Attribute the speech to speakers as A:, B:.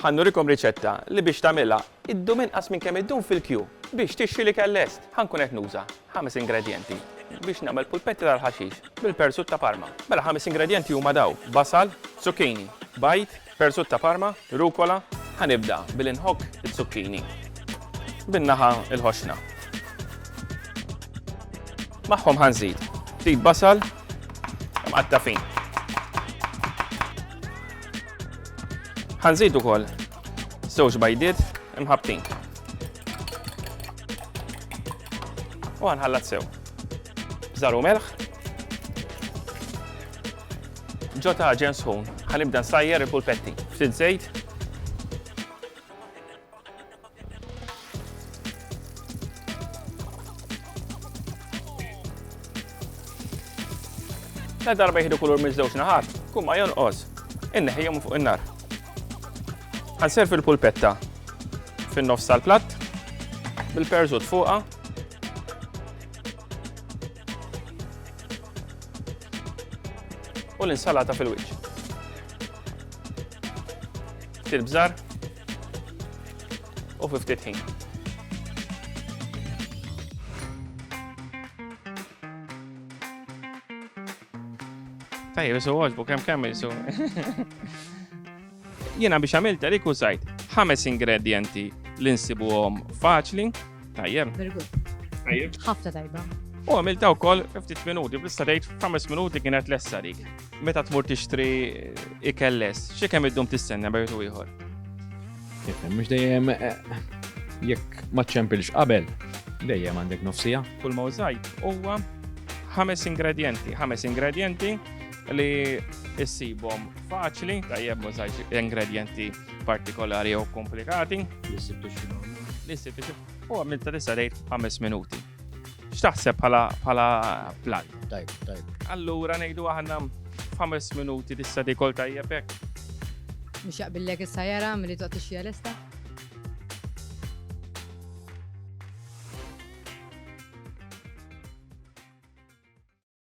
A: Ħa nurikom riċetta li biex tagħmilha ddum inqas minn kemm iddum fil-kju. Biex tixxi l-ikel lest, ħa nkun qed nuża ħames ingredjenti biex nagħmel pulpetti tal-ħaxix bil-persut ta' Parma. Mela ħames ingredjenti huma daw, basal, zucchini, bajd, persut ta' Parma, rucola. Ħa nibda billi nħokk iz-zucchini bin-naħa l-ħoxna. Magħhom ħa nżid ftit basal mqatta' fin. Ħanżid ukoll żewġ bajdiet imħabbtin. U ħanħallat sew. Żaru melħ. Ġo ta' ġen sħun, ħanibda nsajjer il-pulpetti. Ftit żejt, La darba jihdu kulur miż-żewġ naħat, kumma jonqos, inneħijom fuq in-nar. Għanserf il-pulpetta fin-nofs tal-platt, bil-perżut fuqa. U l-insalata fil-wiċċ. Ftit bżar u fi ftit ħin. Tajjeb, isu għoġbu, kem kem isu. Jena biex għamilt għalik użajt ħames ingredienti li nsibuhom faċli Tajjem.
B: Tajjem. Ħafna
A: tajba.
B: U għamil daw kol
A: 50 minuti, bista dejt 5 minuti kienet lessa dik. Meta tmur tixtri ikelles, xie kemm id-dum tistenna bejtu ieħor?
C: Mux dejjem eh, jekk ma ċempilx qabel, dejjem għandek nofsija. Kull ma użajt
A: huwa ħames ingredienti, ħames ingredienti li issibhom faċli, tajjeb użajt ingredienti partikolari jew komplikati. Li ssib tixxinu.
C: Li ssib tixxinu. U għamil ta'
A: tista' tgħid ħames minuti. X'taħseb bħala plan? Tajb, tajb.
C: Allura ngħidu
A: aħna ħames
B: minuti
A: tista'
B: tikol tajjeb
A: hekk. Mhux
B: jaqbillek issa
A: jara
B: milli toqgħod
A: tixxija
B: lesta?